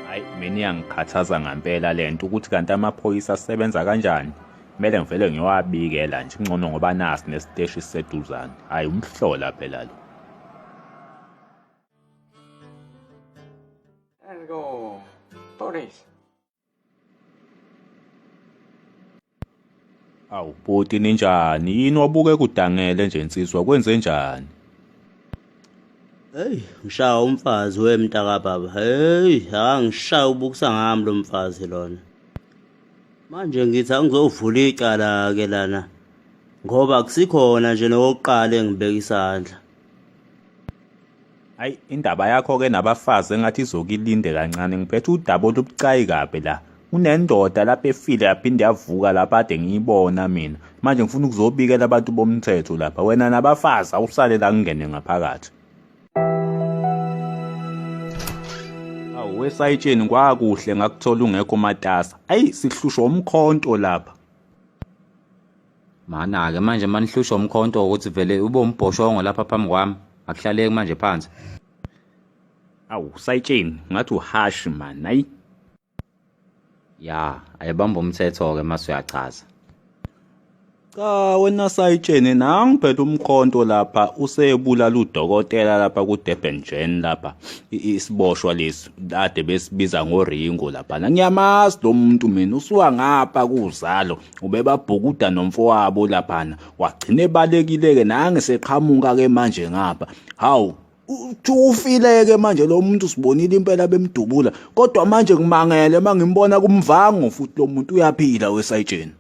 hayi mina iyangikhathaza ngampela le nto ukuthi kanti amaphoyisa asebenza kanjani kumele ngivele ngiyowabikela nje kungcono ngoba nasi nesiteshi siseduzane hhayi umhlola phela lo Go, police. Awu bhuti ninjani yini wabuke kudangele nje nsizwa kwenze njani Hey, ngishaya umfazi we mntaka baba. Hey, angishaya ubukisa ngami lo mfazi lona. Manje ngithi angizovula icala ke lana ngoba akusikhona nje nokuqala engibeka isandla. Hayi indaba yakho ke nabafazi engathi izokilinde kancane ngiphethe udaba olubucayi kabi la. Kunendoda lapha efile yaphinde yavuka lapha ade ngiyibona mina. Manje ngifuna ukuzobikela abantu bomthetho lapha. Wena nabafazi awusale la kungene ngaphakathi. Awu wesayitsheni kwakuhle ngakuthola ungekho matasa. Ayi sihlushwa umkhonto lapha. Mana-ke manje manihlushwa umkhonto ukuthi vele ube umbhoshongo lapha phambi kwami akuhlaleki manje phansi awu sayitsheni ngathi uhashi mani ayi ya ayebamba umthetho-ke mase uyachaza cha wena sayitsheni nangiphethe umkhonto lapha usebulala udokotela lapha kudurban jen lapha isiboshwa lesi kade besibiza ngoringo lapha ngiyamazi lo muntu mina usuka ngapha kuzalo ubebabhukuda nomfowabo laphana wagcina ebalekile-ke nange seqhamuka-ke manje ngapha hawu ufileke manje lo muntu sibonile impela bemdubula kodwa manje ngimangele uma ngimbona kumvango futhi lo muntu uyaphila wesayitsheni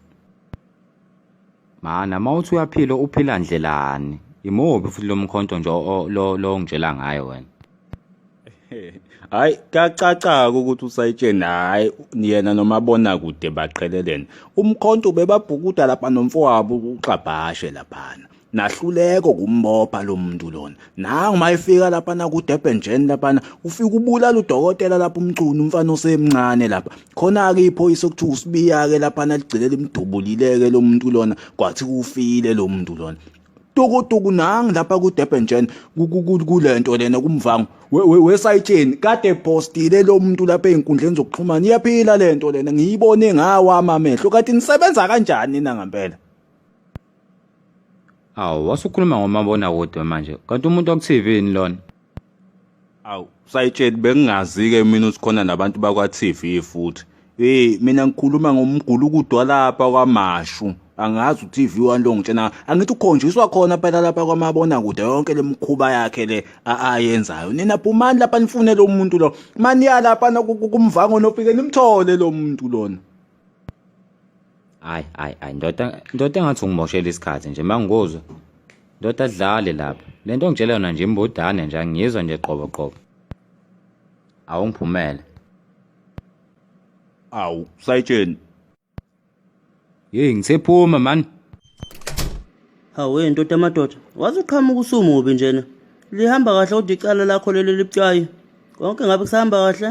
mana uma uthi uyaphila uphila ndlelani imubi futhi lo mkhonto nje lo ngitshela ngayo wena hayi kacacaka ukuthi usayitsheni hayi yena nomabona kude baqhelelene umkhonto ubebabhukuda lapha nomfowabo uxabhashe laphana nahluleko kumbopha lo muntu lona nangu uma efika laphana kudurban njeni laphana ufika ubulala udokotela lapho umcunu umfana osemncane lapha khona-ke iphoyisa okuthiwa usibiya-ke laphana ligcine limdubulileke lo muntu lona kwathi kufile lo muntu lona tukutuku nangi lapha ku-durban jan kule nto lena kumvango wesayitsheni kade postile lo muntu lapha ey'nkundleni zokuxhumana iyaphila le nto lena ngiyibone ngawami amehlo kanti nisebenza kanjani na ngempela awu wasukhuluma ngomabonakude manje kanti umuntu waku-tv yini lona Awu sayitsheli bengingazi-ke mina ukuthi khona nabantu bakwa-TV futhi. Hey mina ngikhuluma ngomgulukudu walapha kwamashu. Angazi u-TV wani lo ngitshena angithi ukhonjiswa khona phela lapha kwamabonakude yonke le mikhuba yakhe le ayenzayo. Nina phumani lapha nifune lo muntu lo. Maniya lapha kumvango nofike nimthole lo muntu lona. hayi hayi hayi ndoda ndoda engathi ungimoshela isikhathi nje mangikuzwa ndoda dlale lapha le nto ngitshela yona nje imbodane nje angiyizwa nje qobo qobo awungiphumele awu sayitsheni yeyi ngisephuma mani hawe ndoda amadoda waze uqhamuka usumubi njena lihamba kahle kodwa icala lakho leli libucayi konke ngabe kusahamba kahle